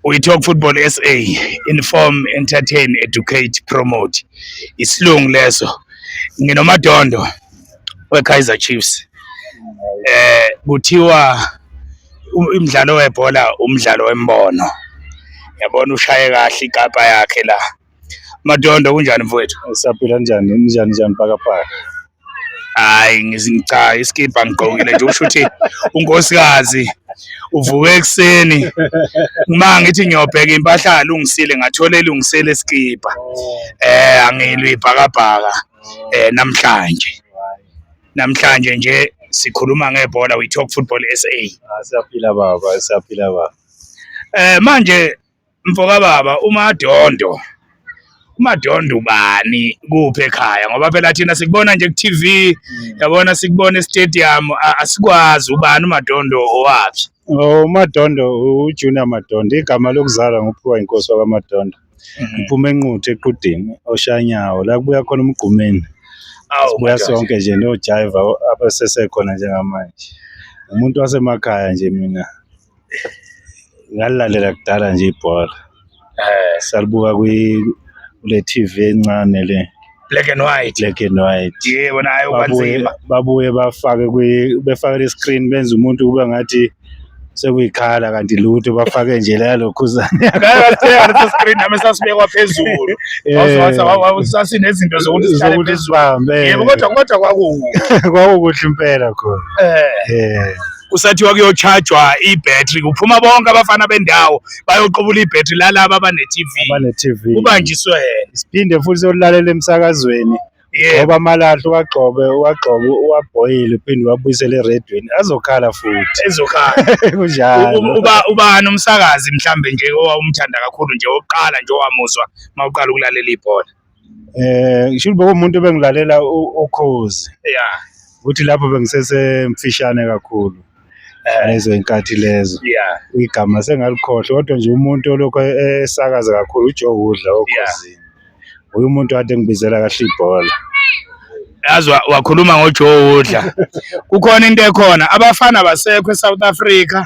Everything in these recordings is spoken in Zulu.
We talk football SA, inform, entertain, educate, promote. Isilungu leso. Nginomadondo weKaizer Chiefs. Eh kuthiwa umdlalo webhola umdlalo wembono. Yabona ushaye kahle igabha yakhe la. Madondo kunjani mfowethu? Siyaphila njani? Njani njani pakapaka? Hayi ngizinca iskibha ngigqokile nje usho ukuthi unkosikazi uvuke ekuseni uma ngithi ngiyobheka impahla alungisile ngathola elungisele iskibha. Eh angilwi ibhakabhaka eh namhlanje. Namhlanje nje sikhuluma ngebhola we talk football SA. Ah, siyaphila baba, siyaphila baba. Eh manje Mfokababa uMadondo uMadondo ubani kuphi ekhaya ngoba phela thina sikubona nje ku-TV mm. yabona sikubona e-stadium asikwazi ubani uMadondo owaphi oh, uMadondo uJunior Madondo igama lokuzalwa nguphiwa inkosi wakwaMadondo mm. ngiphuma enquthu equdini oshanyawo la kubuya khona umgqumeni sibuya sonke nje nojayiva abasesekhona njengamanje umuntu wasemakhaya nje mina ngalilalela kudala nje ibhola eh salibuka kwi kule TV encane le black and white black and white yebo nayo kwanzima babuye bafake kwi befake le screen benza umuntu kube ngathi sekuyikhala kanti lutho bafake nje la lokhuzane ngakathenga leso screen nami sasibekwa phezulu eh. sasinezinto zokuthi sihlale phezulu yebo kodwa kodwa kwakukuhle kwakukuhle impela khona eh, eh. kusathiwa kuyochajwa ibhetri kuphuma bonke abafana bendawo bayoqubula ibhetri lalaba abane-tv abane-tv kubanjiswe siphinde futhi siyolalela emsakazweni ngoba amalahle uwagxobe uwagxobe uwabhoyile uphinde uwabuyisele eredweni azokhala futhi ezokhala kunjalo uba ubani umsakazi mhlambe nje owawumthanda kakhulu nje oqala nje owamuzwa mawuqala ukulalela ibhola Eh ngisho ukuthi umuntu bengilalela ukhozi. Yeah. Ukuthi lapho bengisesemfishane kakhulu. Eh. Lezo inkathi lezo. Yeah. Igama sengalikhohle kodwa nje umuntu olokho esakaza kakhulu uJoe Udla okhozini. Uyu umuntu kade ngibizela kahle ibhola. yazi wakhuluma ngojoe woodla kukhona into ekhona abafana abasekho esouth africa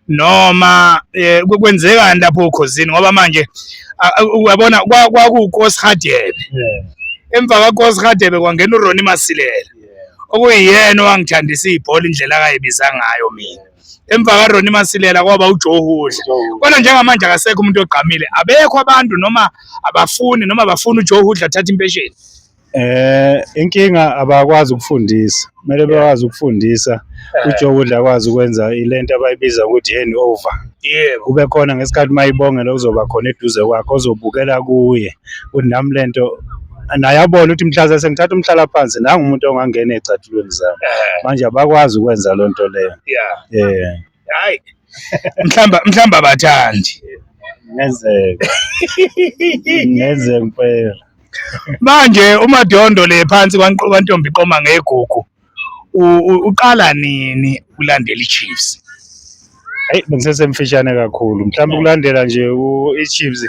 noma eh, kwenzekani lapho ukhosini ngoba manje uyabona kwakukoshadebe emva kakoshadebe kwangena uroni masilela okuyiyena owangithandisa ibhola indlela akayibiza ngayo mina emva karoni masilela kwaba ujohudla kodwa njengamanje akasekho umuntu ogqamile abekho abantu noma abafuni noma bafuna ujohudla athatha impesheni Eh inkinga abakwazi ukufundisa. Kumele bakwazi ukufundisa. Eh. UJokudla akwazi ukwenza ilento abayibiza ukuthi hand over. Yebo. Kube khona ngesikhathi mayibongela kuzoba khona eduze kwakhe ozobukela kuye. Ukuthi nami lento naye abone ukuthi mhlaza sengithatha umhlala phansi nangu umuntu ongangena ezicathulweni zami. Eh. Manje abakwazi ukwenza lonto leyo. Yeah. Eh. hayi mhlamba mhlamba bathandi ngenzeka ngenzeka impela manje umadondo le phansi kwanqoba ntombi qoma ngegugu uqala nini ulandela iChiefs hey bengisesemfishane kakhulu mhlawumbe ukulandela nje iChiefs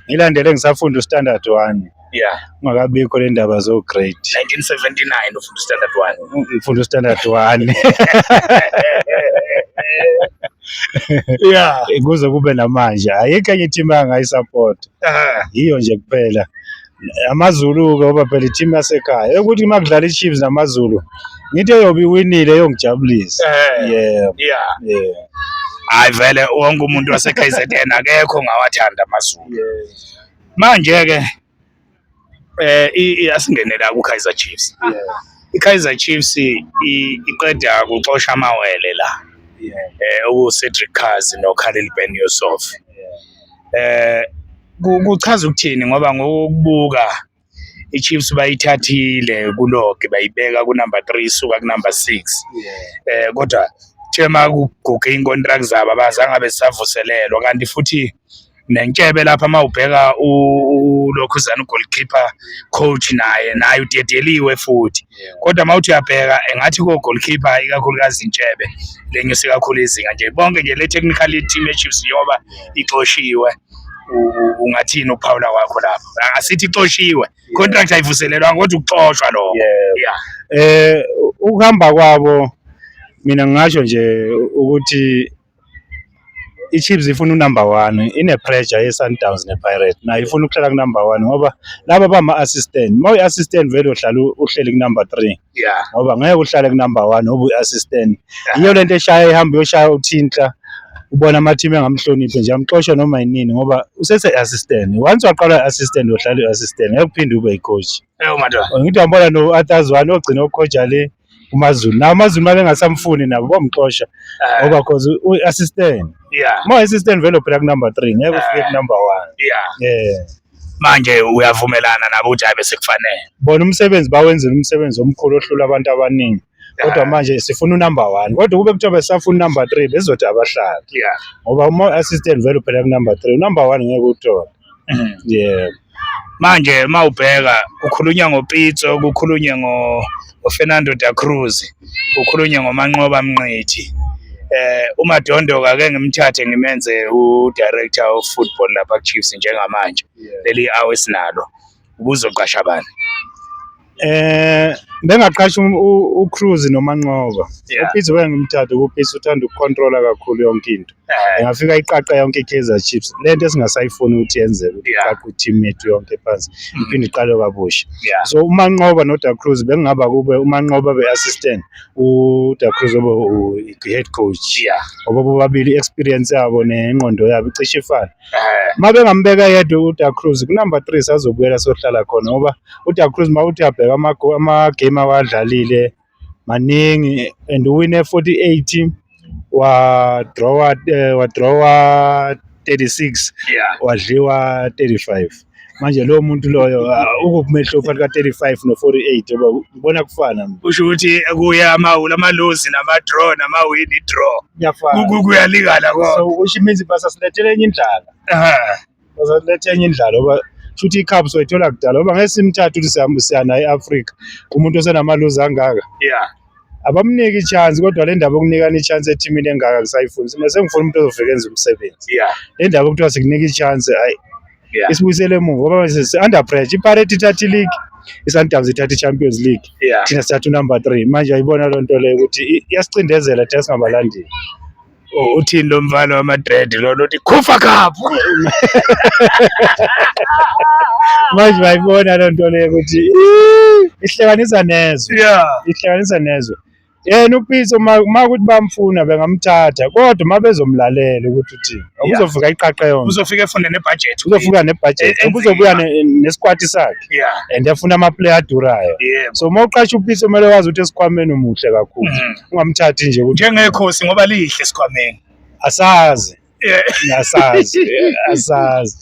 ngilandele ngisafunda uStandard 1 yeah makabikho le ndaba zo grade 1979 ufunda standard 1 ngifunda standard 1 yeah kuze kube namanje ayikho enye team angayisupport yiyo nje kuphela amazulu ke oba phela team yasekhaya ukuthi makudlala iChiefs namazulu ngithi eyobe winile yongijabulisa yeah yeah yeah hayi vele wonke umuntu waseKZN akekho ngawathanda amazulu Manje-ke eh asingene la ku-Kaizer Chiefs. I-Kaizer Chiefs iqeda kuxosha amawele la. Eh uCedric Kazi noKhalil Ben Yusuf. Eh kuchaza ukuthini ngoba ngokubuka iChiefs bayithathile kulogi bayibeka kunumber 3 suka kunumber 6. Eh kodwa kuthiwa uma kuguge iy'nkontilaki zabo abazange abe zisavuselelwa kanti futhi nentshebe lapha uma ubheka ulokhuzana ugolkipa coach naye naye udedeliwe futhi kodwa uma uthi uyabheka engathi kogolkipa ikakhulukazi intshebe lenyuse kakhulu izinga nje bonke nje le technical team echiefs yoba ixoshiwe ungathini ukuphawula kwakho lapho asithi ixoshiwe contract ayivuselelwanga kodwa ukuxoshwa lokho yeah eh ukuhamba kwabo mina ngingasho nje ukuthi i-Chiefs ifuna unumber one ine-pressure ye-Sundowns ne-Pirate nayo ifuna ukuhlala kunumber one ngoba laba bama-assistant uma uyi-assistant vele uhlala uhleli kunumber three yeah ngoba ngeke uhlale kunumber one ngoba uyi-assistant yiyo le nto eshaya ihamba uyoshaya uthintla ubona amathimu engamhloniphi nje amxoshe noma yinini ngoba usese-assistant once waqala i-assistant uyohlala i-assistant ngeke uphinde ube yi-coach Eyo madoda. Ngithi wambona no Athazwane ogcina ukhoja le uMaZulu. Na uMaZulu manje ngasamfuni nabo bomxosha Eh, ngoba cause u assistant. yeah, Mo assistant vele uphela ku number 3 ngeke ufike ku number 1. yeah. Yeah. Manje uyavumelana nabo ukuthi hayi bese kufanele. Bona umsebenzi bawenzile umsebenzi omkhulu ohlula abantu abaningi. kodwa manje sifuna unumber one kodwa kube kuthiwa besafuna unumber three bezothi abahlali yeah ngoba uma assistant vele uphela kunumber three unumber one ngeke uthole Mhm. yeah manje uma ubheka kukhulunywa ngopitso kukhulunywe ngo- ngofernando da cruz kukhulunywe ngomanqoba mnqithi eh umadondo kake ngimthathe ngimenze udirector of football lapha kuchiefs njengamanje leli awe sinalo ubuzoqasha bani eh bengaqasha um, uCruz noManqoba uPitso bengimthatha kuPitso uthanda ukucontrola kakhulu yonke into eh. engafika iqaqa yonke iKaizer Chiefs lento esingasayifuni ukuthi yenzeke ukuthi iqaqa i-team yethu yonke phansi mm. iphinde iqale kabusha so uManqoba noDa Cruz bekungaba kube uManqoba be-assistant uDa Cruz obe head coach ngoba bobabili i-experience yabo nengqondo yabo icishe ifane uma bengambeka yedwa uda cruz kunumber three sazobuyela sohlala khona ngoba uda cruz uma uthi abheka amagame awadlalile maningi and uwine 48 wadrawa eh, wadrawa 36 wadliwa 35 manje lowo muntu loyo uh, ukumehluko phakathi ka-35 no-48 yoba ubona kufana kusho ukuthi kuya amawula amalozi nama-draw namawini i-draw kuyafana Ku- kuyalingana so konke kusho imizi basasilethela enye indlala Aha. basasilethela enye indlala oba shuthi i-cubs wayithola kudala oba ngeke simthathe ukuthi siya- siya naye e-afrika umuntu osenamaluzi angaka yeah abamniki ichance kodwa le ndaba yokunikana ichance ethimini engaka kusayifuni mina sengifuna umuntu ozofika enza umsebenzi yeah le ndaba okuthiwa sikunika ichance hayi yeah isibuyisele emuva ngoba manje si under pressure iparate ithatha ileague isundowns ithatha i-champions league yeah thina sithatha unumber three manje ayibona loo nto leyo ukuthi i- iyasicindezela thina singabalandeli Oh, uthini lo mfana wamadred lona uthi khufa khaphu manje bayibona loo nto leyo ukuthi ihlekanisa nezwe yeah. ihlekanisa nezwe yena uPitso uma uma ukuthi bamfuna bengamthatha kodwa uma bezomlalela ukuthi uthini ubuzofika iqaqa yonke uzofika efune nebudget uzofika nebudget eh, eh, ubuzobuya eh, nesikwati sakhe and efuna ama-player adurayo so uma uqasha uPitso kumele wazi ukuthi esikhwameni umuhle kakhulu mm-hmm. ungamthathi nje ukuthi njengekhosi ngoba lihle sikhwameni asazi asazi asazi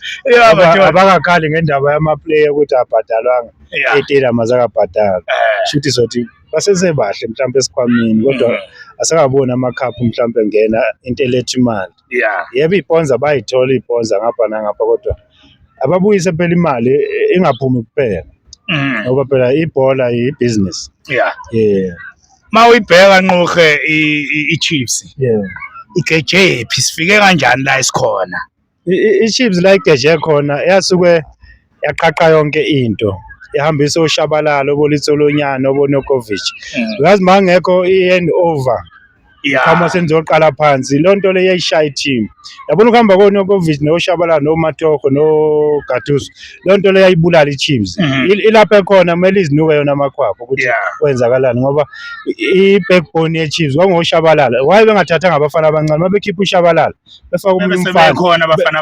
abakakhali ngendaba yamaplayer ukuthi abhadalwanga etela mazakabhadala eh. shuthi sothi basesebahle mhlawumbe esikhwamini kodwa mm. asakaboni amakhaphu mhlawumbe ngena into eletha imali yebo iponza bayithola iponza ngapha nangapha kodwa ababuyise phela imali ingaphumi kuphela mm. ngoba phela ibhola yibhizinisi yeah uma uyibheka nqohe i-chiefs igeje yephi sifike kanjani la esikhona i-chiefs la igeje khona yasuke yaqaqa yonke into ihambisa oshabalala obolitsolonyana obonokovic because mm. mangekho i-hand over yeah. khama senizoqala phansi loo nto leyo yayishaya i-team yabona ukuhamba konokovic noshabalala nomatoho nogatuso loo nto leyo yayibulala i-teams mm -hmm. ilapha ekhona kumele izinuke yona amakhwapha ukuthi yeah. kwenzakalani ngoba i-backbone ye-chiefs kwangoshabalala waye bengathathanga abafana abancane uma bekhipha ushabalala befaka umfana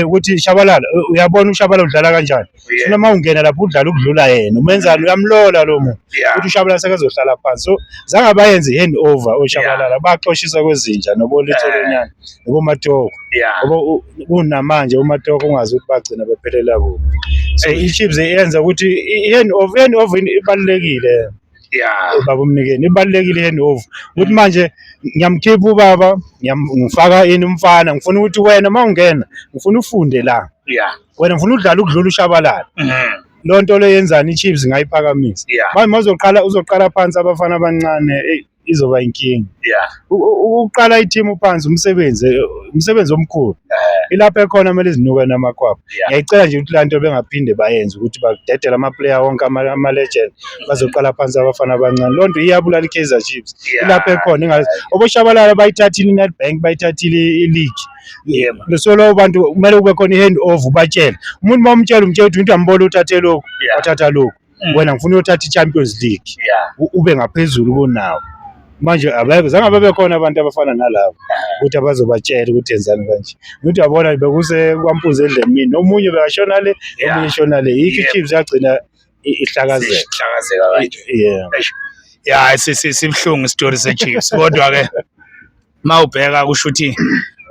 ukuthi shabalala uyabona ushabalala udlala kanjani Yeah. Sifuna uma ungena lapho udlala ukudlula yena. Umenzani uyamlola lo muntu. Yeah. Uthi uShabalala sekazohlala phansi. So zange bayenze hand over oShabalala. Baxoshisa kwezinja nobolitholonyana nobomatoko. Yeah. Ngoba u- kunamanje umatoko ungazi ukuthi bagcina bephelela kuphi. So Hey. iChiefs yenza ukuthi i- hand over hand over ibalekile. Yeah. ubaba umnikeni ibalekile hand over ukuthi manje ngiyamkhipha ubaba ngiyam- ngifaka ini umfana ngifuna ukuthi wena uma ungena ngifuna ufunde la Yeah. wena ngifuna udlala ukudlula ushabalala Mhm. loo nto leyo yenzani ichiefs ngayiphakamisa Yeah. manje mazoqala uzoqala phansi abafana abancane eyi, izoba inkinga Yeah. U- u- ukuqala ithimu phansi umsebenzi eh, umsebenzi omkhulu ilapho ekhona kumele izinuke namakwabo Yeah. ngiyayicela nje ukuthi laa nto bengaphinde bayenze ukuthi badedele amaplayer wonke ama- ama-legend bazoqala phansi abafana abancane loo nto iyabulala i-kaizer chiefs Yeah. ilapho ekhona ingazi oboshabalala bayithathile i-nedbank bayithathile i-league yebo lesolo abantu kumele kube khona i-hand over ubatshele umuntu uma umtshela umtshela ukuthi into yambona uthathe lokhu wathatha lokhu mm. wena ngifuna uyothatha i-champions league ube ngaphezulu kunawo manje abekho zange babe khona abantu abafana nalabo ukuthi abazobatshela ukuthi enzani kanje ukuthi yabona bekuse kwampunzi endleni mina omunye bekashona le omunye shona le yikho ichiefs yagcina ihlakazeka ihlakazeka kanje yeah ya sibuhlungu isitori sechiefs kodwa ke uma ubheka kusho ukuthi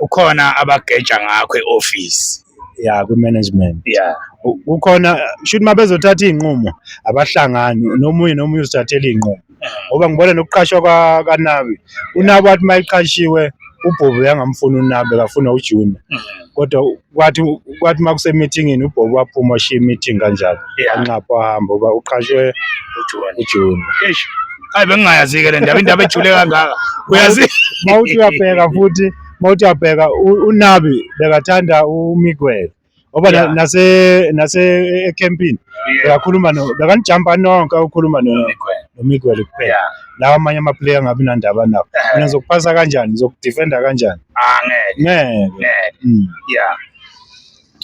ukhona abageja ngakho e-office ya kwi-management ya kukhona shuthi uma bezothatha iy'nqumo abahlangani nomunye nomunye uzithathela iy'nqumo ngoba ngibona nokuqashwa kanabi unabi wathi uma eqashiwe ubhubu yangamfuni unabi akafuna ujunior mm. kodwa kwathi kwathi uma kusemithingini ubhobo waphuma washiya imithingi kanjalo Yeah. anxapha wahamba uba uqashwe ujuni Eish. Hayi bengingayazi-ke le ndaba indaba ejule kangaka uyazi uma uthi uyabheka futhi uma uthi uyabheka u- unabi bekathanda umigwele ngoba na- Yeah. nase nase ekhempini bekakhuluma no bekanijampa nonke ukhuluma no- nomigwele kuphela Yeah. lawa amanye amaplayer angabi nandaba nabo Eh. mina zokuphasa kanjani zokudefenda kanjani Ah, ngeke ngeke ngeke Mm. yeah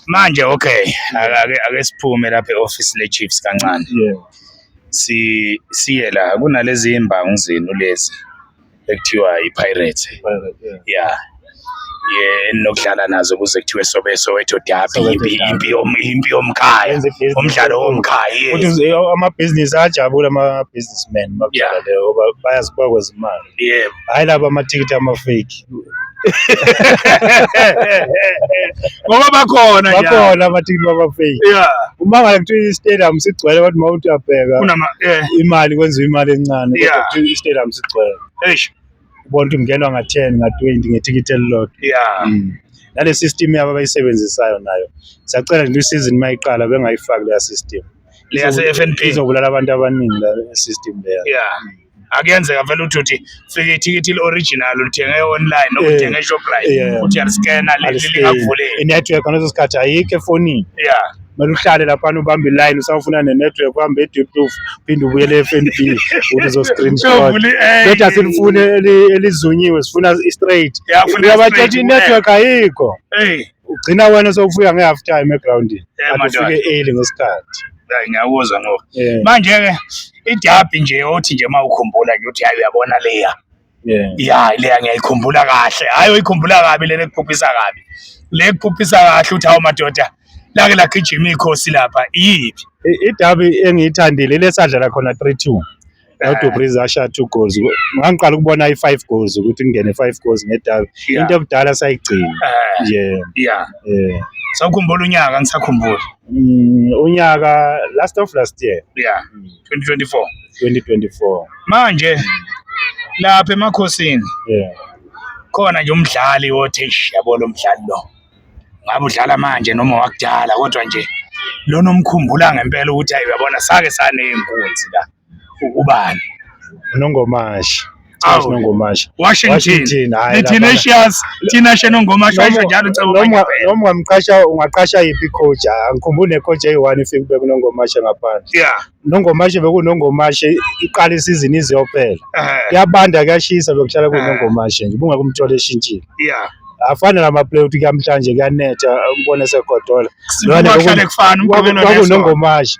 manje okay ake ake- ake siphume lapha e-office le-chiefs kancane yeah si siye la kunalezi imbangu zenu lezi ekuthiwa i-pirate Pirate, yeah. yeah enokudlala nazo kuze kuthiwe sobe soweto dabi impi impi impi yomkhaya umdlalo womkhaya futhi amabhizinisi ajabule ama-businessman bakudlala leyo ngoba bayazi bakwenza imali yebo hhayi laba amathikithi amafeki ngoba bakhona bakhona amathikithi babafeki uma ngale kuthiwa i-stadium sigcwele abantu uma uthi uyabheka imali kwenziwa imali encane kodwa kuthiwa i-stadium sigcwele ubona ukuthi kungenwa nga-ten nga-twenty ngethikithi elilodwa ya Mm. nale system yabo abayisebenzisayo nayo siyacela nje isizini uma iqala bengayifaki leya system Leya Izobu- se-FNB. izobulala abantu abaningi la system leya ya akuyenzeka vele ukuthi uthi fika ithikithi ili-original ulithenge online Eh, ulithenge eshoprite yeah. uthi yaliscana Aliscane. lingakuvulela inetwork ngaleso sikhathi ayikho efonini ya kumele uhlale laphana ubambe iline usawufuna nenetwork uhambe edeptof phinde ubuyele e-fnb ukuthi uzo-screenshot bethi asilifuni elizunyiwe sifuna i-straight uyabatshetsha i-network ayikho ugcina wena sowufika nge-half time egroundini andifike early ngesikhathi ngiyakuzwa ngoku manje-ke idabi nje othi nje uma ukhumbula nje ukuthi hayi uyabona leya Yeah. Ya leya ngiyayikhumbula kahle. Hayi uyikhumbula kabi lena ekuphuphisa kabi. Le ekuphuphisa kahle uthi hawu madoda lake lagijima ikhosi lapha iyiphi? I- Idabi engiyithandile ile sadlala khona 3-2. No Eh. Dubriz ashaya 2 goals. Ngangiqala ukubona i-5 goals ukuthi kungene 5 goals ngedabi. Yeah. Into ebudala sayigcina. Eh, Yeah. yeah. Yeah. Sawukhumbula unyaka ngisakhumbula. Mm, unyaka last of last year. Yeah. 2024 2024 manje lapha emakhosini yeah khona nje umdlali othi eish yabo lo mdlali lo ngabe udlala manje noma wakudala kodwa nje lona omkhumbula ngempela ukuthi ayi uyabona sake saneyinkunzi la ubani unongomashi Charles Awu. Nongomasha Washington Washington hayi lapha. Itinatius Tinashe Nongomasha washo njalo Cebo Noma- Mangempela. noma ungamqasha ungaqasha yiphi coach Ah, angikhumbule coach eyi-one ifike kube kunongomashe ngaphandle yeah nongomashe bekunongomashe iqala isizini iziyophela eh, kuyabanda kuyashisa bekuhlala kunongomashe nje ubungeke umthole eshintshile yeah afane namaplay ukuthi kuyamhlanje kuyanetha umbone segodola Sibuka kuhlale kufana umgqibelo neSonto. kwakunongomashe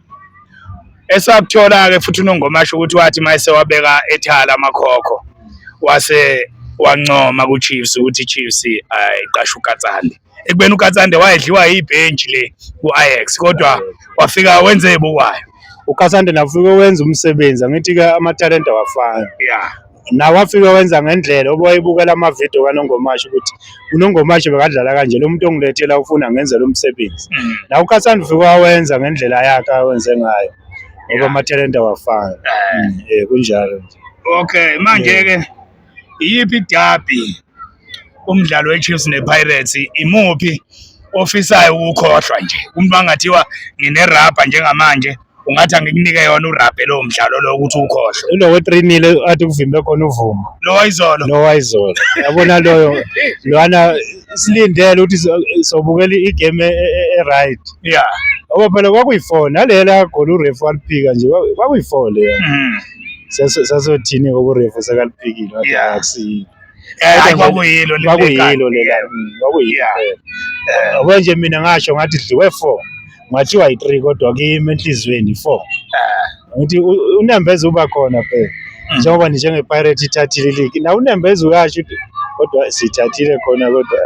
esakuthola-ke futhi unongomasho ukuthi wathi uma esewabeka ethala amakhokho wase wancoma kuChiefs ukuthi iChiefs ayiqashe uKatsande ekubeni uKatsande wayedliwa yibhenji le ku-Ajax kodwa wafika wenze ebukwayo uKatsande nafike wenza umsebenzi angithi-ke amathalente awafani yeah nawe wafike wenza ngendlela uba wayebukela amavidiyo kanongomasho ukuthi unongomasho bekadlala kanje lo muntu ongilethela ufuna ngenzela umsebenzi mm. nawe ukhathanda ufike wawenza ngendlela yakhe awenze ngayo ngoba amathalente awafani eh. mm, eh, kunjalo nje okay manje-ke iyiphi idabi umdlalo weChiefs nePirates imuphi ofisayo ukukhohlwa nje umuntu angathiwa nginerabha njengamanje ungathi angikunike yona urabhe lowo mdlalo lowo ukuthi ukhohlwe lo we-three nil athi kuvimbe khona uvumo lo wayizolo lo wayizolo yabona loyo lwana silindele ukuthi sobukela igame e, e, e, e-right ya ngoba phela kwakuyi-four nalela goli urefu waliphika nje kwakuyi-four leya mm. sasothini-ke urefu sekaliphikile akusiyini Hayi kwakuyilo le kwakuyilo lela kwakuyilo yabo nje mina ngasho ngathi dliwe 4 ngathiwa yi-3 kodwa kimi enhliziyweni 4 ngithi unembeza uba khona phela hmm. njengoba nje njengepirate ithathile iligi na unembeza uyasho ukuthi kodwa sithathile khona kodwa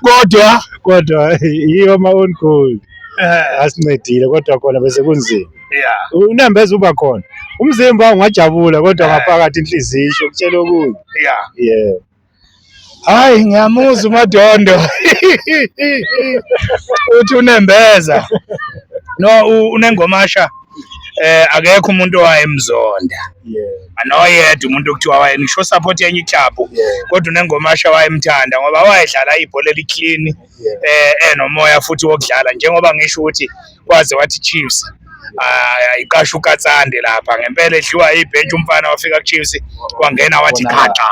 kodwa kodwa yiyo ama-on goal eh. asincedile kodwa khona bese kunzima yeah unembeza uba khona umzimba ungajabula kodwa Yeah. ngaphakathi inhliziyo isho kutshela okunye yeah yeah hayi ngiyamuzwa umadondo uthi unembeza no u- unengomasha eh akekho umuntu owayemzonda yeah anoyedwa umuntu okuthiwa waye ngisho support yenye iklabhu yeah kodwa unengomasha wayemthanda ngoba wayedlala ibhola eliclean eh enomoya eh, futhi wokudlala njengoba ngisho ukuthi kwaze wathi Chiefs ayiqasha ah, uKatsande lapha ngempela edliwa ibhentshe umfana wafika kuChiefs kwangena wathi khaqa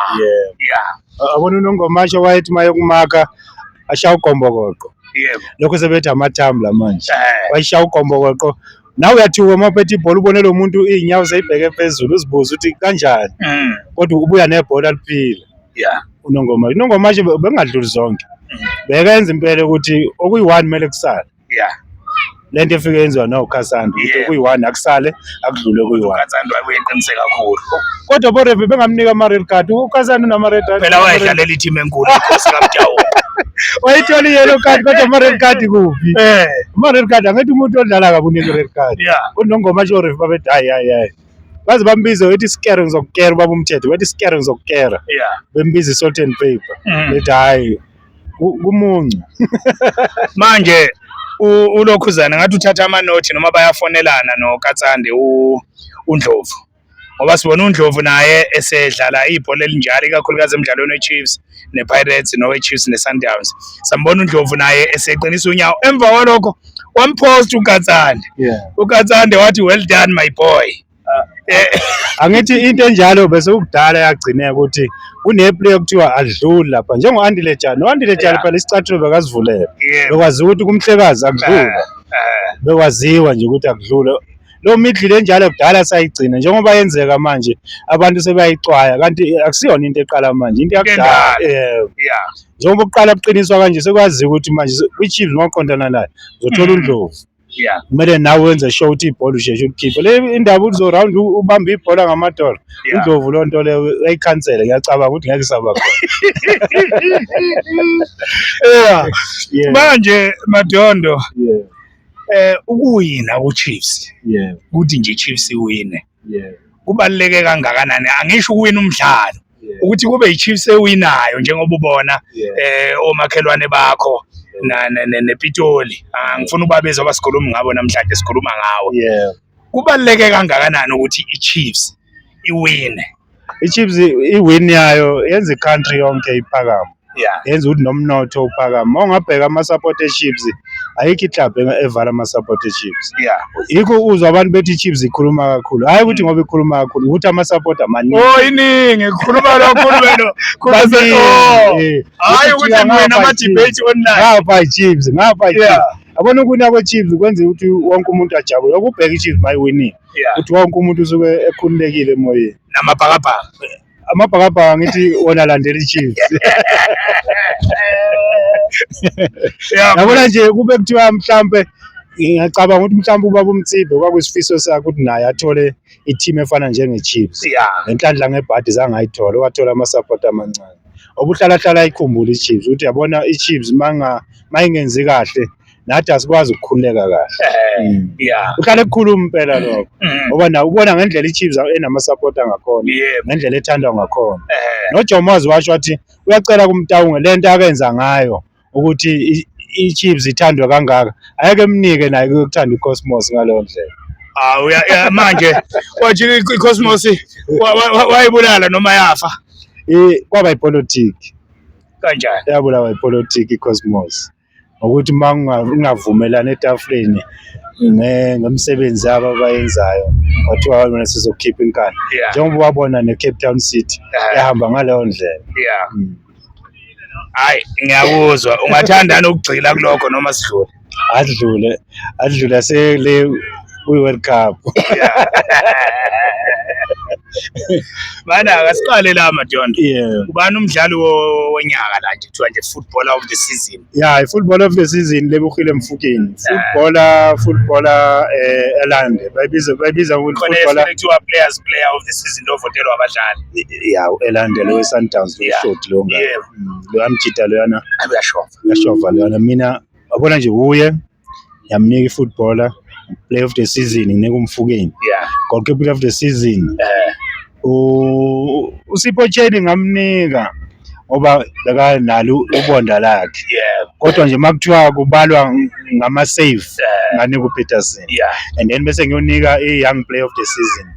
yeah abona unongomasho wayethi maye kumaka ashaya ukombokoqo yebo lokho sebethi amathambo la manje eh. wayishaya ukombokoqo nawe uyathiwa uma uphethe ibhola ubone lo muntu iy'nyawo seyibheke phezulu uzibuze ukuthi kanjani mm. kodwa ubuya nebhola liphila yeah unongoma unongoma nje bengadluli zonke bekenza impela ukuthi okuyi-one kumele kusale yeah le nto efike yenziwa nawukhasanda ukuthi Yeah. okuyi-one akusale akudlule okuyi-one ukatsandwa uyeqinise kakhulu kodwa borefi bengamnika ama-red card ukhasanda unama-red card phela wayedlalela i-team enkulu inkosi kamtawuko wayithola i-yellow card kodwa ama-red card kuphi Eh, ama-red card angithi umuntu odlala kabunika i-red card yeah unongoma nje orefi babethi hayi hayi hayi baze bambize wethi isikero ngizokukera ubaba umthetho wethi isikero ngizokukera yeah bembiza i-salt and paper Mm. bethi hhayi ku- kumuncu manje u- ulokhuzana ngathi uthatha amanothi noma bayafonelana nokatsande u- undlovu ngoba sibona undlovu naye esedlala ibhola elinjalo ikakhulukazi emdlalweni wechiefs nePirates noweChiefs neSundowns sambona uNdlovu naye eseqinisa unyawo emva kwalokho wamphosta uKatsande yeah. uKatsande wathi well done my boy ah, eh. angithi into enjalo bese ukudala yagcineka ukuthi kuneplay okuthiwa adluli lapha njengo-andile jani u-andile jani phela isicathulo bekazivulele bekwaziwa ukuthi kumhlekazi akudlula eh, eh. bekwaziwa nje ukuthi akudlule Lo middle le njalo kudala sayigcina njengoba yenzeka manje abantu sebayixwaya kanti akusiyona into eqala manje into yakudala. Eh, Yeah. Njengoba kuqala kuqiniswa kanje sekwaziwa ukuthi manje kwiChiefs mawuqondana nayo uzothola Mm. uNdlovu. Yeah. Kumele nawe wenze show ukuthi ibhola usheshe ulikhiphe. Le indaba uzo round ubamba ibhola ngamadolo. Yeah. UNdlovu lo nto leyo uyayikhansela ngiyacabanga ukuthi ngeke isaba khona. Yeah. Yeah. Manje Madondo Yeah. Eh ukuwina uChiefs. Yeah. Ukuthi nje iChiefs iwine. Yeah. Kubaluleke kangakanani? Angisho ukuwina umdlalo. Ukuthi kube iChiefs ewinayo njengoba ubona eh omakhelwane bakho nePitoli. Ah, ngifuna ubabezwa abasikhulumi ngabo namhlanje sikhuluma ngawo. Yeah. Kubaluleke kangakanani ukuthi iChiefs iwine? iChiefs iwin yayo yenza icountry yonke iphakama yeah yenza ukuthi nomnotho uphakama uma ungabheka ama-support eChiefs ayikho iclub eng- evala ama-support eChiefs yeah yikho uzwa abantu bethi iChiefs ikhuluma kakhulu hhayi ukuthi ngoba ikhuluma kakhulu ukuthi ama-support amaningi oh iningi khuluma kakhulu wena khuluma Baningi, oh eh. hayi Ukuthi ukuthi ngapha mina ama iChiefs. debate online ngapha iChiefs ngapha iChiefs Yeah. yabona ukuwina kweChiefs kwenza ukuthi wonke umuntu ajabule ukubheka iChiefs mayiwinile Yeah. ukuthi wonke umuntu usuke ekhululekile emoyeni Namabhakabhaka. amabhakabhaka ngithi wona alandela ichiefs Yeah. yabona nje kube kuthiwa mhlampe ngiyacabanga ukuthi mhlampe ubaba umthibe kwakusifiso sakhe ukuthi naye athole i-team efana njenge-chiefs Yeah. ngenhlanhla ngebhadi zange ayithole wathola amasapoti amancane obuhlalahlala ayikhumbula i-chiefs ukuthi yabona i-chiefs manga mayingenzi kahle nathi asikwazi ukukhululeka kahle Eh, Mm. yeah. uhlale kukhuluma impela lokho Mm, ngoba na ubona ngendlela ichiefs enamasapoti angakhona yebo. ngendlela ethandwa ngakhona Eh, nojomo wazi washo wathi uyacela kumtawunge le nto akenza ngayo ukuthi i- ichiefs ithandwe kangaka ayeke emnike naye kuyokuthanda icosmos ngaleyo ndlela ah, uya- ya- manje wathi i- iCosmos wa- wa- wa- wayibulala noma yafa I- kwaba ipolitiki kanjani? yabulawa ipolitiki icosmos ngokuthi uma ungavumelani etafuleni ngemisebenzi yabo abayenzayo kwathiwa wena sizokhipha inkani njengoba wabona ne-cape town city ehamba ngaleyo ndlela mm. hayi ngiyakuzwa ungathandani ukugxila kulokho noma sidlule adlule adlula sele kwi-world cup bana akasiqale la madondo yeah. ubani umdlali wo- wonyaka la nje kuthiwa nje footballer of the season ya i-football of the season lebukile mfukeni footballer footballer eh elande bayibiza bayibiza ukuthi khona footballer efike kuthiwa players player of the season lovotelwa abadlali ya elande lo sundowns lo Yeah. short lo nga Yeah. Mm, lo amjita loyana uyashova uyashova loyana mina wabona nje uye yamnika ifootballer player of the season nginika umfukeni yeah goke player of the season eh u usipho tsheni ngamnika ngoba beka nalo ubonda lakhe yeah kodwa nje makuthiwa kubalwa ngama save eh nganika uPeterson yeah and then bese ngiyonika i-young player of the season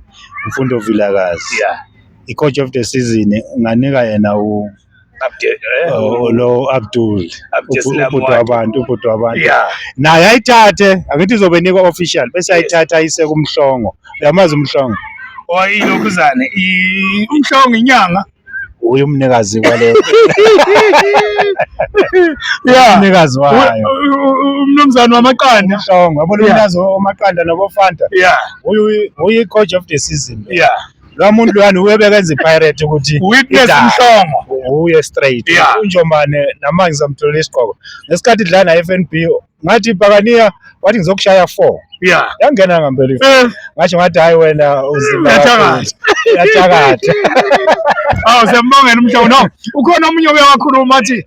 umfundo vilakazi yeah i-coach of the season nganika yena u eh? oh, lo abdul ubhuti wabantu ubhuti wabantu naye ayithathe angithi izobe nikwa official bese ayithatha ayise kumhlongo uyamazi umhlongo oyilokhuzane oh, umhlongo inyanga uye umnikazi kwale umnikazi wayo umnumzane wamaqanda umhlongo yabona umnikazi wamaqanda nobofanta uyi coach of the season yeah Lo muntu lwana uyebekenza iPirate ukuthi Witness idala. Mhlongo. Uye straight. Yeah. UNjomane namanje samtholela isigqoko. Ngesikhathi idlala naFNB ngathi Pakania wathi ngizokushaya 4. Yeah. Yangena ngempela ifu. Eh, Ngasho ngathi hayi wena uzima. Uyathakatha. Uyathakatha. awu sembongela umhlongo. No, ukhona omunye oyakhuluma athi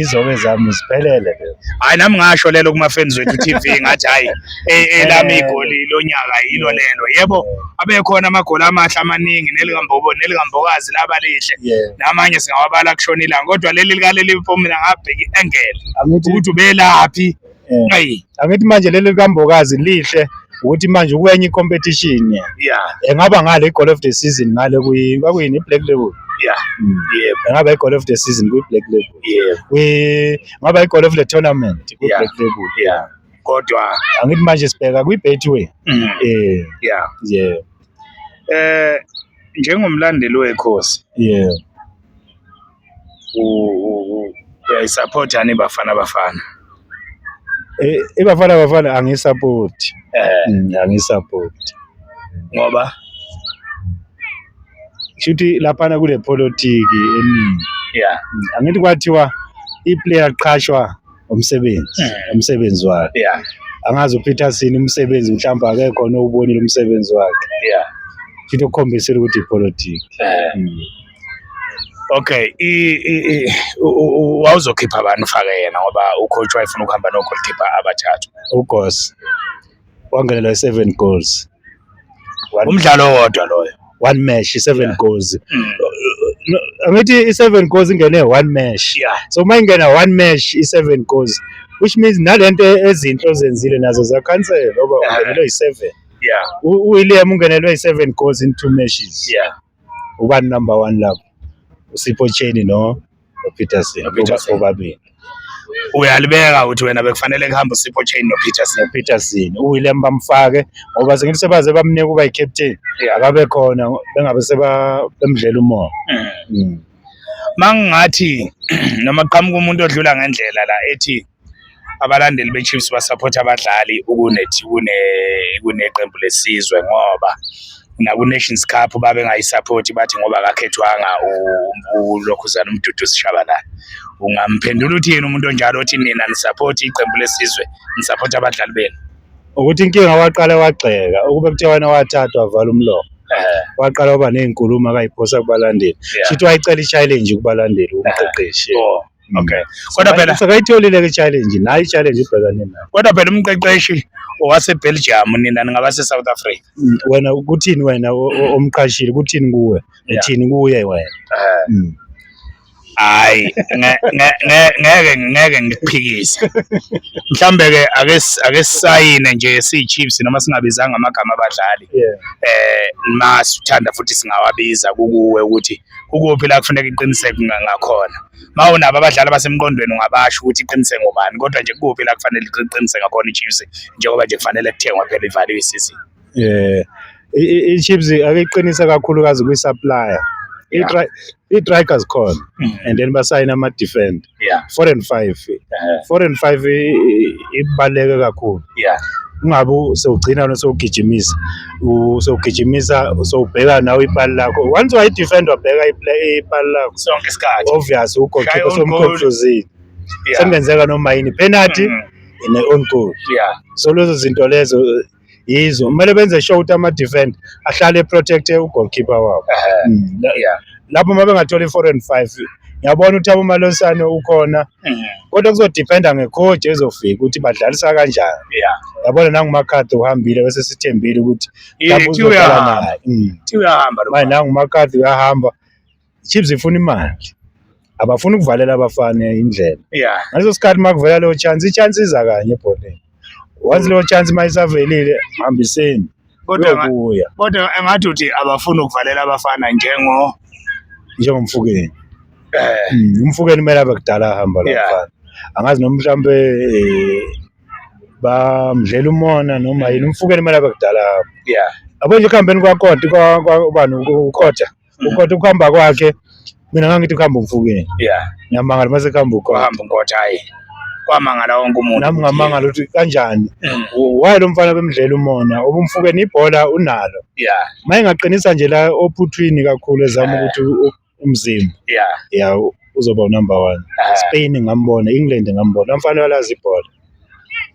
izobe zami ziphelele lezo hayi nami ngasho lelo kumafans wethu TV ngathi hayi e- elami igoli lonyaka yilo lelo yebo abekhona amagoli amahle amaningi nelikambobo nelikambokazi laba lihle namanye singawabala kushona ilanga kodwa leli likaleli mpomela ngabheki engele ukuthi ubelaphi Eh. Ayi. Angithi manje leli likambokazi lihle ukuthi manje ukwenye i-competition Yeah. engaba ngale i-goal of the season ngale kwi- kwakuyini i-black label Yeah. Mm. Yebo. engaba i-goal of the season kwi-black label Yebo. Kwi- ngaba i-goal of the tournament Yeah. kwi-black label Yeah. Kodwa. angithi manje sibheka kwi-betway Mm. eh Yeah. yeah Eh njengomlandeli wekhosi yeah uyayisupport yani Bafana Bafana eh iBafana Bafana angisupport eh mm, angisupport ngoba shuthi laphana kule politiki eningi yeah mm, angithi kwathiwa iplayer qhashwa umsebenzi mm. umsebenzi wakhe yeah angazi uPeter sini umsebenzi mhlawumbe akekho nowubonile umsebenzi wakhe yeah shuthi ukukhombisile ukuthi ipolitiki eh mm. Okay, wawuzokhipha bani ufake yena ngoba ucoach wayefuna ukuhamba no goalkeeper abathathu. Ugos wangenela i-seven goals. One, Umdlalo owodwa loyo. one match i-seven Yeah. goals. Mm. No, Angithi i-seven goals ingene one match. Yeah. So uma ingena one match i-seven goals which means nalento ezinhle ozenzile nazo zakhansela ngoba Yeah. ungenelwe yi-seven. Yeah. U- UWilliam ungenelwe yi-seven goals in two matches. Yeah. ubani number one lapho usipho cheni no nopeterson Peterson. obabili uyalibeka uthi wena bekufanele kuhambe usipho chain nopeterson nopeterson uwilliam bamfake ngoba sengithi sebaze bamnike ukuba yi-captain Yeah. akabe khona bengabe seba- bemdlela umoya Mm. mangingathi noma kuqhamuka umuntu odlula ngendlela la ethi abalandeli beChiefs basapotha abadlali ukunethi kune kuneqembu lesizwe ngoba naku-Nations Cup babengayisaphothi bathi ngoba akakhethwanga uLokhuzana uMduduzi Shabalala ungamphendula uthi yena umuntu onjalo othi nina nisaphothi iqembu lesizwe nisaphothi abadlali benu ukuthi inkinga waqale wagxeka ukube kuthiwa wena wathathwa vala umlomo waqala waba ney'nkulumo akayiphosa kubalandeli shithi wayicela i-challenge kubalandeli umqeqeshi oh. Okay. Kodwa phela sekayitholile ke challenge, nayi challenge ibhekane nayo. Kodwa phela umqeqeshi owase Belgium nina ningabase South Africa. Mm, Wena kuthini wena o- o- omqashile kuthini kuwe? Yeah. Ethini kuye wena? Eh. Mm. Hayi, nge- nge- nge- ngeke ngeke ngikuphikise. Mhlambe ke ake s- ake sisayine nje siyiChiefs noma singabizanga amagama abadlali. Yeah. Eh, masithanda futhi singawabiza kukuwe ukuthi ukuphi la kufuneka iqiniseko ngakhona ma unabo abadlali basemqondweni ungabasho ukuthi iqiniseko ngobani kodwa nje kuphi la kufanele iqiniseko ngakhona iChiefs njengoba nje kufanele kuthengwa phela ivaliwe isizini eh iChiefs akeqinisa kakhulukazi kwi-supplier i-Dragons khona mm. and then basayina ama-defender yeah. four and five uh-huh. four and five ibaluleke kakhulu yeah. ungabe sewugcina wena sewugijimisa sewugijimisa sewubheka nawe ipali lakho once wayidefend wabheka ipali lakho sonke isikhathi obvious ugokipa somconfusile yeah. sekungenzeka noma yini penalty mm -hmm. in own goal yeah. so lezo zinto lezo yizo kumele benze sure ukuthi ama-defend ahlale eprotecte ugoalkeeper wabo Mm. yeah lapho uma bengathola i-four and five ngiyabona ukuthi abomalonsane ukhona Mhm. kodwa kuzodependa ngecoach ezofika ukuthi badlalisa kanjani yeah yabona nangumakhathi uhambile bese sithembile ukuthi Ithi lapho uzodlala uyahamba. naye Mm. ithi uyahamba lo manje nangumakhathi uyahamba Chiefs ifuna imali abafuni ukuvalela abafana indlela yeah ngaleso sikhathi uma kuvela leyo chance i-chance iza kanye ebholeni once leyo chance uma isavelile hambiseni kodwa nga- kuya kodwa engathi uthi abafuni ukuvalela abafana njengo njengomfukeni eh Mm, umfukeni kumele abe kudala ahamba lo Yeah. mfana angazi noma mhlawumbe eh, bamdlela umona noma yini umfukeni kumele abe kudala ahamba yeah yabo nje ekuhambeni kwakoda kwa- kwa- ubani ukoda ukhotha ukuhamba kwakhe mina ngangithi kuhamba umfukeni yeah ngiyamangala mase kuhamba ukhotha kuhamba ukhotha hayi kwamangala wonke umuntu nami ngamangala ukuthi kanjani mm. waye lo mfana bemdlela umona ubumfukeni ibhola unalo yeah mayengaqinisa nje la ophuthwini kakhulu ezama ukuthi umzimba yeah yeah uzoba unumber one Spain ngambona England ngambona umfana walazi ibhola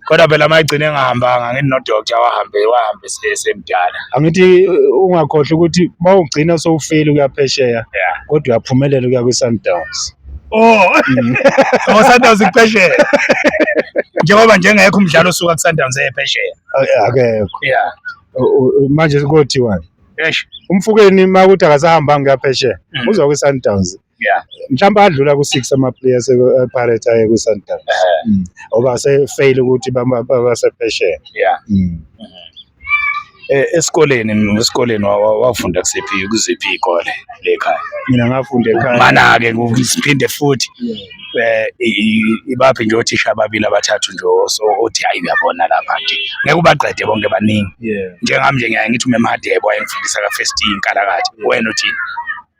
kodwa phela mayigcine engahambanga ngithi nodokta wahambe wahambe esemdala angithi uh, ungakhohlwa ukuthi uma ugcina sowufeli ukuya phesheya kodwa uyaphumelela ukuya kwi-sundowns oh mm. oh sundowns iphesheya njengoba njengekho umdlalo osuka kusundowns ephesheya akekho ya manje kothiwani umfukeni uma ukuthi akasahambanga kuyaphesheya mm. uza kwi-sundowns yeah mhlawumbe adlula ku-six ama-players epirates aye kwi-sundowns mm. ngoba sefeyile ukuthi basephesheya yeah mm. eh, esikoleni esikoleni wafunda kusiphi kuziphi iy'kole le khaya mina ngafunda ekhaya mana-ke siphinde futhi eh ibaphi nje othisha ababili abathathu nje othi hayi uyabona lapha nje ngeke ubaqede bonke baningi njengami nje ngiyaye ngithi umemhadebo wayengifundisa ka-first inkalakathe wena uthini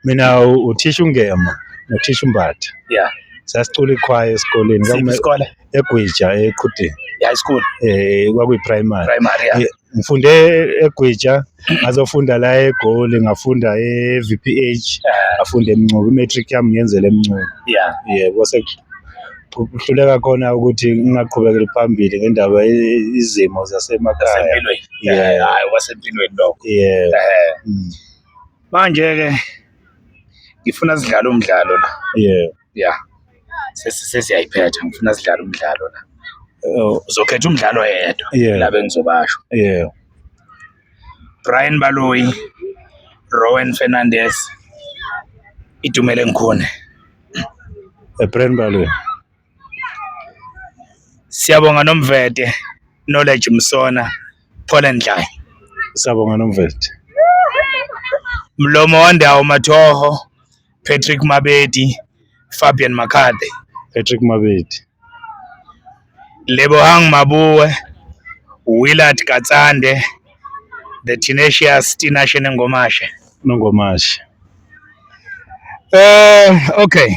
mina u- uthisha ungema nothisha umbatha Yeah. sasicula ikhwaya esikoleni Siphi kwakume- isikole? egwija eqhudeni Ya isikole. eh kwakuyiprimary Primary. Yeah. Eh, ngifunde egwija ngazofunda la egoli ngafunda e-vph Eh, ngafunda emncubi i-matric yami ngiyenzela emncubi Yeah. yebo sekuhluleka khona ukuthi ngingaqhubekeli phambili ngendaba ye- izimo zasemakhaya Wasempilweni. Yeah. Yeah. Hayi wasempilweni lokho. yeah Eh. mm. Manje-ke ngifuna sidlale umdlalo la. Yeah. Yeah. Sesiyayiphetha ngifuna sidlale umdlalo la. Oh. Uzokhetha umdlalo yedwa yeah. la bengizobasho. Yeah. Brian Baloyi, Rowan Fernandez, Itumele Ngikhone. Eh, Brian Baloyi. Siyabonga Nomvete, Knowledge Msona, Phola Ndlayi. Siyabonga Nomvete. Mlomo Wandawo Mathoho, Patrick Mabedi, Fabian Makade. Patrick Mabedi. Lebohang Mabuwe, Willard Katsande, The Tenacious Tinashe Nengomashe. Nengomashe. Eh, okay.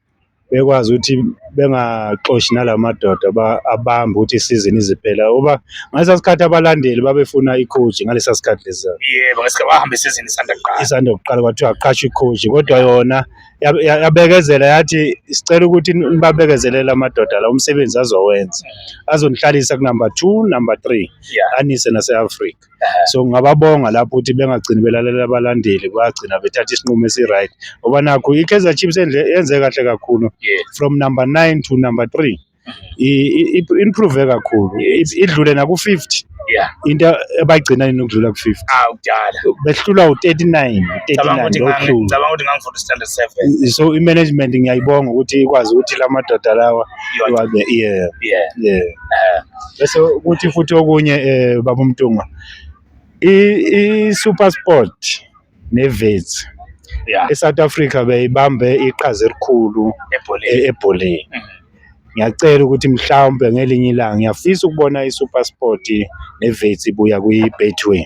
bekwazi ukuthi bengaxoshi nala madoda abambe ukuthi isizini iziphela uba ngalesa sikhathi abalandeli babefuna ikhoji ngalesa sikhathi lesa yebo ngesikhathi bahamba isizini isanda kuqala isanda kuqala kwathiwa aqashe ikhoji kodwa yona yabekezela yathi sicela ukuthi nibabekezelele amadoda la umsebenzi azowenza azonihlalisa kunumber two number three anise nase-afrika so ngingababonga lapho ukuthi bengagcini belalela abalandeli bagcina bethatha isinqumo esi-right ngoba nakho i-kaizer chiefs yenze kahle kakhulu from number nine to number three improve kakhulu idlule naku-fifty yeah into abayigcina yini ukudlula ku-50 ah kudala behlulwa u-39 ngicabanga ukuthi ngangifunda standard 7 so i-management ngiyayibonga ukuthi ikwazi ukuthi la madoda lawa iwabe yeah yeah yeah eh. bese kuthi futhi okunye eh baba uMtungwa i Super Sport neVets yeah. eSouth Africa beyibambe iqhaza elikhulu ebholeni e-, mm-hmm. ngiyacela ukuthi mhlawumbe ngelinye ilanga ngiyafisa ukubona iSuperSport neVets ibuya kwi-Betway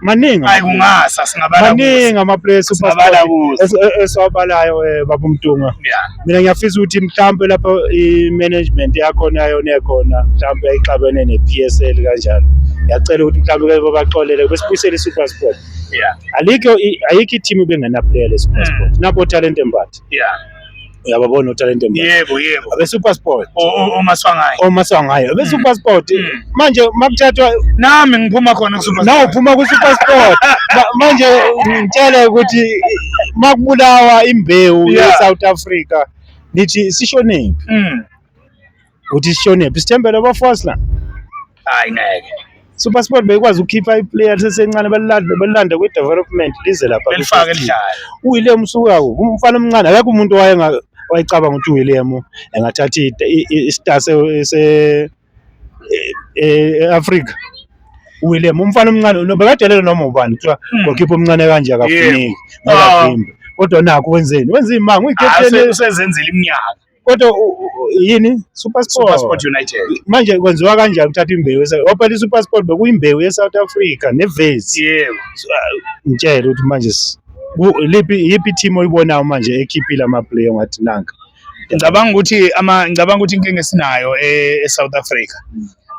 maningi hayi kungasa singabala maningi ama place ubabala esiwabalayo eh, baba umtunga mina ngiyafisa ukuthi mhlawumbe lapho i management yakhona yona ekhona mhlawumbe ayixabene ne PSL kanjalo yacela ukuthi mhlawumbe ke babaxolele besibuyisele i super sport yeah alikho ayikho i team bengena player le super hmm. sport nabo talent embathi yeah uyababona utalente manje yebo yebo abe super sport O- o- omaswangayo oma sangayo abe super sport Mm. manje makuthathwa nami ngiphuma khona kusuper nawe uphuma ku super sport Ma- manje ngitshele ukuthi makubulawa imbewu Yeah. ye South Africa nithi sishonephi Mm. uthi sishonephi sithembele abafazi la hayi ngeke supersport beyikwazi ukukhipha iplayer lisesencane balilande balilande kwi-development lize lapha belifake lidlala uwilliam usukako umfana omncane akekho umuntu owayenga wayecabanga ukuthi uwilliam engathatha i- i- i- istar se- se- e- e- e-afrika uwilliam umfana omncane no- bekadelele noma ubani kuthiwa Hmm. gokhipha omncane kanje akafuneki Ah. ngakavimba kodwa nakho wenzeni wenza imanga Hayi, uyikapteni use- usezenzela iminyaka kodwa yini supersport united manje kwenziwa kanjani ukuthatha imbewu ophela isupersport bekuyimbewu ye-south africa nevezi yebo uh, ngitshele ukuthi manje liphi yiphi team oyibonayo manje ekhiphile amaplayer ngathi nanka ngicabanga ukuthi ama ngicabanga ukuthi inkinga esinayo e-south africa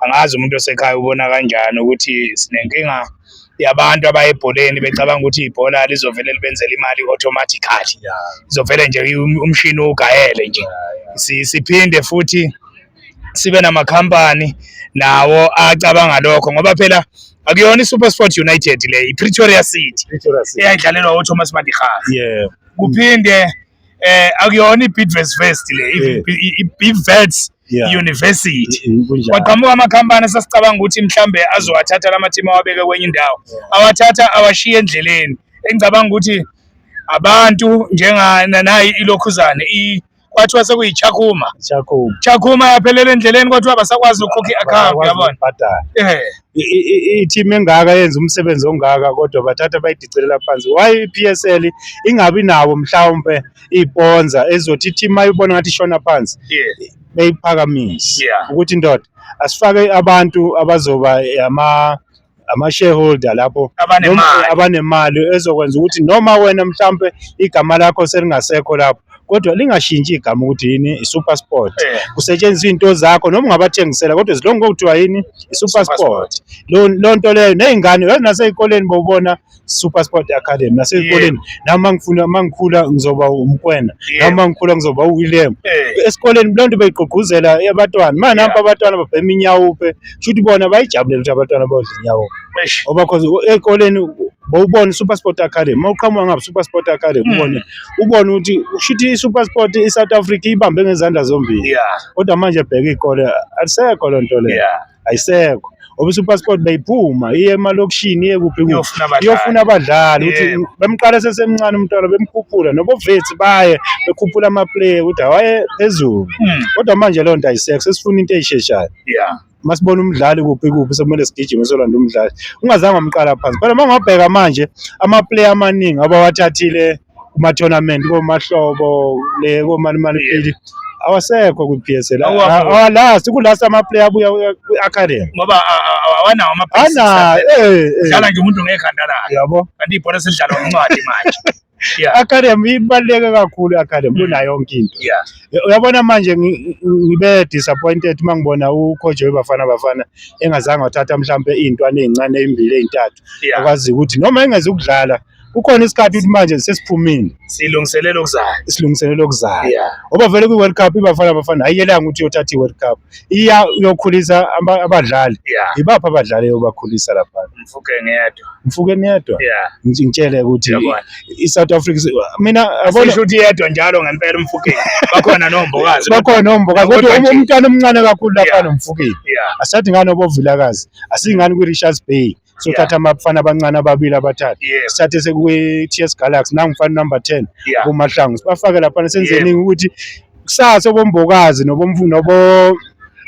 angazi umuntu osekhaya ubona kanjani ukuthi sinenkinga yabantu abaye ebholeni becabanga ukuthi ibhola lizovele libenzele imali automatically izovele nje um-, umshini ugayele nje siphinde futhi sibe namakhampani nawo acabanga lokho ngoba phela akuyona iSuperSport United le iPretoria City eyayidlalelwa uThomas Madikhaha yeah kuphinde eh akuyona iBidvest Fest le iBidvest University kwaqhamuka amakhampani sasicabanga ukuthi mhlambe azowathatha lamathimu awabeke kwenye indawo awathatha awashiye endleleni engicabanga ukuthi abantu njengana nayi ilokhuzane i kwathiwa sekuyichakhuma chakhuma yaphelela endleleni kodwa abasakwazi ukukhokha i-akhawunti yabona eh i-team engaka yenza umsebenzi ongaka kodwa bathatha bayidicelela phansi why i-PSL ingabi nawo mhlawumbe iponza ezothi i-team ayibona ngathi ishona phansi beyiphakamise ukuthi indoda asifake abantu abazoba ama ama-shareholder lapho abanemali ezokwenza ukuthi noma wena mhlawumbe igama lakho selingasekho lapho kodwa lingashintshi igama ukuthi yini i-super sport eh. kusetshenziswa into zakho noma ungabathengisela kodwa zilonge kokuthiwa yini i-super sport loo nto leyo ney'ngane yazi nasey'koleni bowubona super sport academy nasey'koleni nami mangifuna mangikhula ngizoba umkwena nami mangikhula ngizoba uwilliam eh. esikoleni loo nto beyigqugquzela abantwana ma nampa abantwana babhema inyawupe shuthi bona bayijabulela ukuthi abantwana bodla inyawupe ngoba cause ey'koleni bowubona iSuperSport Academy uma uqhamuka ngapha iSuperSport Academy hmm. ubone ubone ukuthi ushuthi iSuperSport iSouth Africa ibambe ngezandla zombili kodwa manje bheka ikole alisekho loo nto leyo ayisekho ngoba iSuperSport beyiphuma iye emalokishini iye kuphi kuphi iyofuna abadlali ukuthi bemqala sesemncane umntwana bemkhuphula nobovethi baye bekhuphula amaplayer ukuthi awaye phezulu hmm. kodwa manje leyo nto ayisekho sesifuna into eyisheshayo masibona umdlali kuphi kuphi sekumele sigijime solanda umdlali ungazange wamqala phansi phela uma ungabheka manje amaplayer amaningi abawathathile kuma-tournament komahlobo le komalimaliphili awasekho kwi-PSL awalast kulast amaplayer abuya kwi-academy ngoba awanawo amaana eh, eh. dlala nje umuntu ngekhanda lakhe yabo kanti ibhola selidlalwa ngencwadi manje yeah. academy ibaluleke kakhulu i-academy mm. kunayo yonke into yeah. uyabona manje ngibe disappointed uma ngibona ucoach webafana bafana engazange wathatha mhlawumbe iy'ntwana ey'ncane ey'mbili ey'ntathu yeah. akwaziyo ukuthi noma engezi ukudlala kukhona isikhathi ukuthi manje sesiphumile silungiselela okuzayo silungiselela okuzayo ngoba vele kwi-world cup ibafana bafana ayiyelanga ukuthi iyothatha i-world cup iya uyokhulisa aba- abadlali Yeah. yibaphi abadlali obakhulisa lapha Mfuke ngedwa. mfuke niyedwa Yeah. Ngi- ngitshele ukuthi Yabona. i-south africa si- mina abona Asisho ukuthi yedwa njalo ngempela umfukeni. Bakhona nombokazi. bakhona ombokazi kodwa Kodwa um- nje- umntwana omncane kakhulu lapha Yeah. nomfukeni Yeah. asathi ngani obovilakazi asingani kwi-richards bay sothatha abafana abancane ababili abathathu Yes. sithathe sekwi-ts galaxy nangumfana number ten Yeah. kumahlangu sibafake laphana senzeni ukuthi kusasa obombokazi nobomfu- nobo-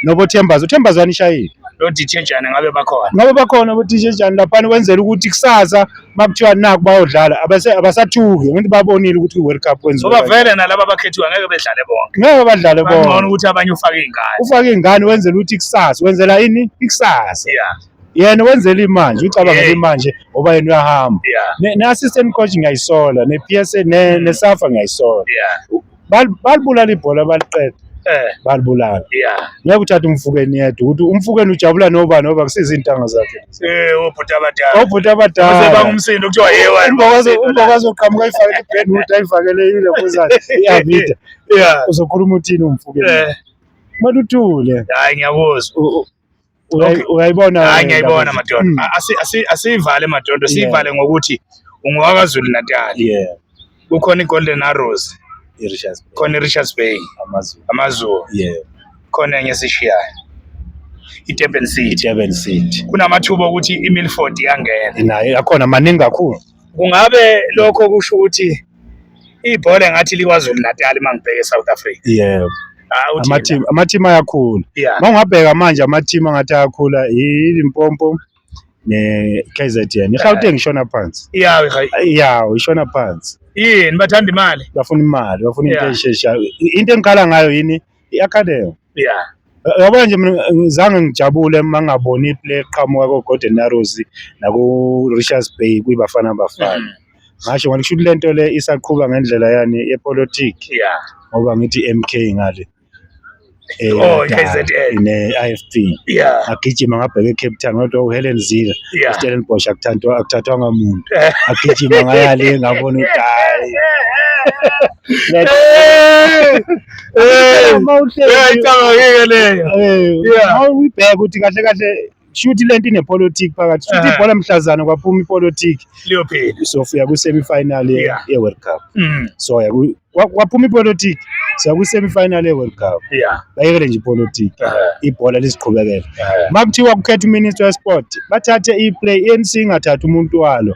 nobothembazo uthembazo anishayile Lo DJ Jane ngabe bakhona. ngoba bakhona bodj jani laphana kwenzela ukuthi kusasa uma kuthiwa naku bayodlala abase- abasathuki ngithi babonile ukuthi kwi-world cup kwenziwa Ngoba kanjani. vele nalaba abakhethiwe ngeke bedlale bonke. ngeke badlale Bangcono bona ukuthi abanye ufake ingane. ufake ingane wenzela ukuthi ikusasa wenzela ini ikusasa Yeah. yena wenzela imanje ucabangela Yeah. imanje ngoba yena uyahamba Yeah. Ne- ne-assistant coach ngiyayisola ne-psa ne- nesafa ngiyayisola Yeah. Bal- balibulala ibhola baliqeda Eh, balibulala yeah. ngeke uthathe umfukeni yedwa ukuthi umfukeni ujabula noba noba kusiza iy'ntanga zakhe Eh, obhuti abadala. obhuti Base abadala bangumsindo kuthiwa yewa. umbokwazi oqhamuka ayifakele ibenwood ayifakele ilefuzane iavida Yeah. uzokhuluma uthini umfukeni Eh, kumele uthule hayi ngiyakuzwa. Uyayi- Uyayibona hayi wena ngiyayibona indaba madondo Mm. A- asi- asi- asiyivale madondo Yeah. siyivale ngokuthi ungowakazulu natal nje. Yeah, kukhona i-golden arrows i-Richards Bay, khona i-richards bay AmaZulu. amazulu Yeah, khona enye esishiyayo i-durban city i-Durban City. kunamathuba okuthi i-milford iyangena Nayo akhona maningi kakhulu. kungabe lokho kusho ukuthi ibhola ngathi likwazulu natali uma ngibheke e-south africa yebo ah, amathimu amathimu ayakhula uma ungabheka manje amathimu angathi ayakhula ilimpompo ne-KZN iGauteng ishona phansi iyawo iyawo ishona phansi yini bathanda imali bafuna imali bafuna into esheshayo into engikhala ngayo yini I-Academy. Yeah. Yabona nje mina ngizange ngijabule uma ngaboni iplay eqhamuka ko-Golden Arrows naku-Richards Bay kwiBafana Bafana. Mm. Ngasho ngathi kusho ukuthi le nto le isaqhuba ngendlela yani yepolitiki Yeah. ngoba ngithi MK ngale. Eh, Oh, da- KZN. ne-IFP. Yeah. Agijima ngabheka eCape Town kodwa uHelen Zila Yeah. uStellenbosch akuthathwa akuthathwanga muntu. Eh. Agijima ngaya le ngabona ukuthi hayi. Hey! eh, ayicabangike leyo uyibheka ukuthi kahle kahle shuthi lento inepolitiki phakathi shuthi eh. ibhola mhlazana kwaphuma ipolitiki liyophela sofika kwi-semi final ye-world cup mm. so kwaphuma ipolitiki siya kwi-semi final ye-world cup bayekele nje ipolitiki eh. ibhola liziqhubekele eh. uma kuthiwa kukhetha uminister wesport bathathe i-play i-anc ingathathi umuntu walo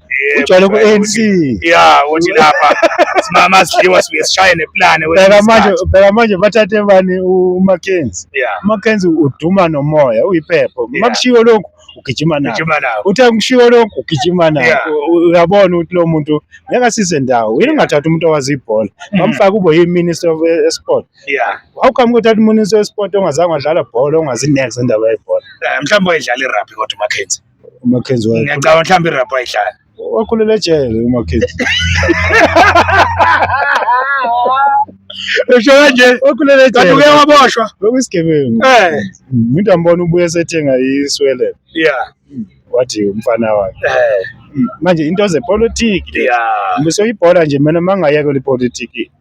ujwayele ku-ANC ya ukuthi lapha simama sidliwa sibuye sishaye neplane bheka manje bheka manje bathathe bani uMackenzie uMackenzie uduma nomoya uyiphepho makushiwo lokhu ugijima nayo uthe ngishiwo lokhu ugijima nayo uyabona ukuthi lo muntu ngeke asize ndawo yini ungathatha umuntu owazi ibhola hmm. bamfake ube yi-minister of eh, sport how come kuthatha uminister wesport ongazange wadlala bhola ongazi next endaba yebhola eh, mhlawumbe wayedlala irabhi kodwa umakhenzi uMackenzie wakhula- ngiyacabanga mhlawumbe irabha ayihlala wakhulela ejele uMackenzie usho kanje wakhulela kanti uke ejele waboshwa bekuyisigebengu eh umuntu ambona ubuye sethenga iswelele ya wathi umfana wakhe eh manje into zepolitiki ya ngisoyibhola nje mina mangayekela ipolitiki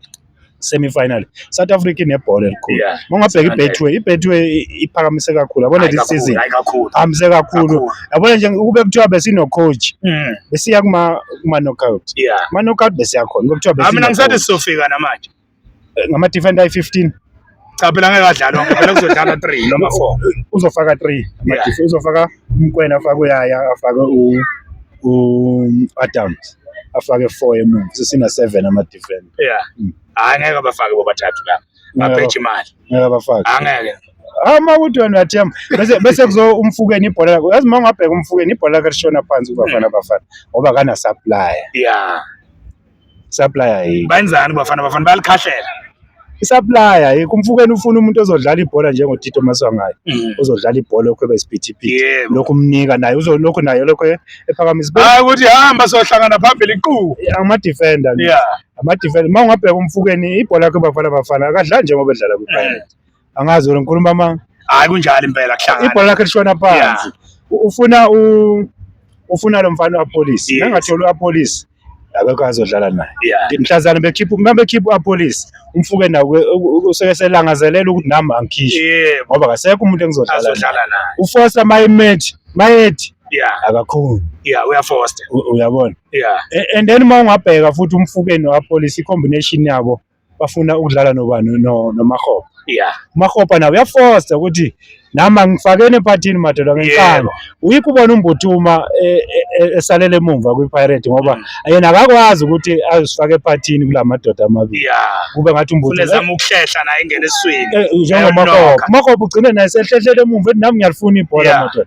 semi final South Africa inebhola elikhulu Yeah. mongabheka ibetway ibetway iphakamise kakhulu yabona Hayi this kakhulu, season hayi kakhulu. hambise kakhulu Kakhulu. yabona nje ukube kuthiwa besino coach Mm, besiya kuma kuma knockout yeah. kuma knockout besiya khona ukube kuthiwa Ah, mina besino ngisathi coach sizofika namanje. ngama defender ayi 15 cha phela ngeke adlalwa ngoba phela kuzodlalwa 3 noma 4 uzofaka 3 amadisi uzofaka umkwena afake uyaya afake u u Adams afake 4 emuva sesina 7 ama defend yeah hmm. hayi ngeke abafake bobathathu la ngabheja imali ngeke abafake angeke ama ukuthi wena uyathemba bese bese kuzo umfukeni ibhola lakho yazi uma ungabheka umfukeni ibhola lakho lishona phansi kubafana bafana ngoba kana supplier yeah Supplier yini? Bayenzani bafana bafana bayalikhahlela. Isupplier yini kumfukeni ufuna umuntu ozodlala ibhola njengo Tito Maswangayi. Mm. Uzodlala ibhola lokho ebesiphithi Yebo. lokho umnika naye uzolokho naye lokho ephakamisa ibe- Hayi ukuthi hamba sohlangana phambili iqu. ama defender nje. Yeah. ama defender uma ungabheka umfukeni ibhola yakhe bafana bafana akadlali njengoba edlala kwi Pirates angazi wena ngikhuluma amanga hayi kunjalo impela kuhlangana ibhola lakhe lishona phansi ufuna u ufuna lo mfana wapolice nangathola upolice akekho azodlala naye mhlazana bekhipha uma bekhipha upolice umfuke nawe useke selangazelela ukuthi nami angikhishwe ngoba kasekho umuntu engizodlala naye ufosa mayimethi mayethi akakhulu uyafosta uyabona and then uma ungabheka futhi umfukeni wapolice i-combination yabo bafuna ukudlala nobani no- nomakhopa ya umakhopa nawe uyafosta ukuthi nami angifakeni emphathini madoda ngenkani Yebo. uyikho ubona umbuthuma eh, eh, eh, esalele emumva kwipirate ngoba yena akakwazi ukuthi azifake emphathini kula madoda amabili ya kube ngathi umbuthuma ulezama ukuhlehla naye ingene eswini Eh, njengomakhopa umakhopa ugcine naye sehlehlele emumva ethi nami ngiyalifuna ibhola Yeah. madoda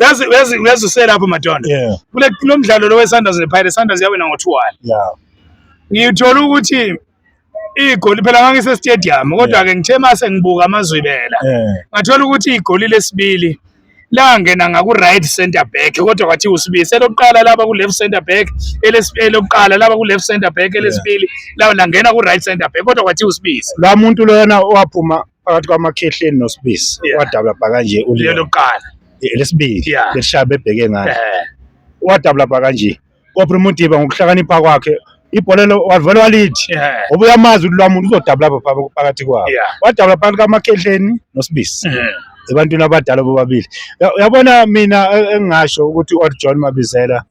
yazi yazi yazi uselapho madondo yeah. kule kulo mdlalo lo weSunders nePirates Sunders yawina ngo 2-1 yeah ngiyithola ukuthi igoli phela ngangise stadium kodwa ke ngithe mase ngibuka amazwibela ngathola ukuthi igoli lesibili langena ngaku right center back kodwa kwathi usibise lokuqala laba ku left center back elesibili lokuqala laba ku left center back elesibili lawo langena ku right center back kodwa kwathi usibise la muntu lona owaphuma phakathi kwamakhehleni nosibisi Yeah. wadabula bha kanje lelo uliyo kuqala lesibili Yeah. leshaya bebheke ngalo eh wadabula bha kanje kopre mutiba ngokuhlakanipha kwakhe ibhola lo wavele walithi eh ngoba uyamazi ukuthi lwamuntu uzodabula bha pha- phakathi kwabo yeah wadabula phakathi kwamakhehleni nosibisi eh ebantwini abadala bobabili Ya- uyabona mina e- engingasho ukuthi u-john mabizela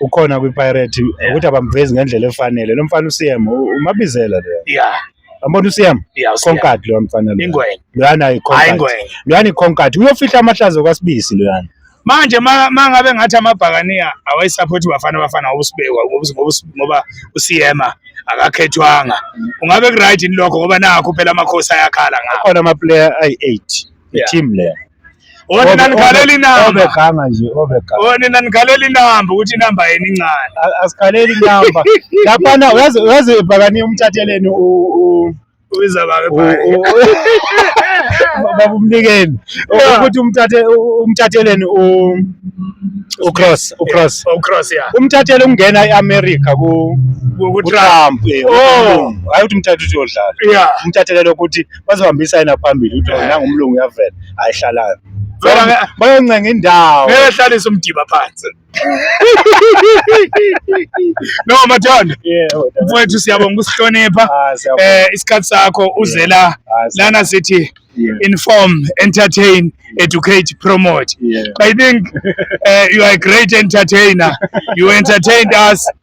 ukhona kwiPirate ukuthi abamvezi ngendlela efanele lo mfana uCM umabizela lo yeah Yabona uSiyam? Concat lo mfana lo. Ingwenya. Loyana iConcat. Loyana iConcat. Uyofihla amahlazo kwaSibisi loyana. Manje mangabe ngathi amabhakaniya awayisaphothi bafana bafana ngobusibekwa ngoba uSiyema akakhethwanga. Ungabe ku-right yini lokho ngoba nakho phela amakhosi ayakhala ngakho. Akhona ama-player ayi-8. Yeah. i-team leyo onina nikhalela inamba obeganga nje obeganga onina nikhalela inamba ukuthi inamba yenu incane A- asikhaleli inamba laphana uyazi uyazi ibhakani umthatheleni u- u- ubiza babe u- bhale u- baba umnikeni Yeah. ukuthi umthathe u- umthatheleni u- ucross ucross oh cross yeah umthathele ukungena e-america ku- Ku- ku- kutrump eh, Oh. ukulunga. hhayi ukuthi umthathe ukuthi uyodlala yeah umthathelele ukuthi bazohambisa yena phambili ukuthi wena ngumlungu uyavela ayihlalayo bayoncenga indawo ngeke hlalisa umdiba phansi no mathanda mfowethu siyabonga ukusihlonipha um eh, isikhathi sakho uzela lana sithi yeah. inform, entertain, yeah. educate, promote. Yeah. I think uh, you are a great entertainer. you entertained us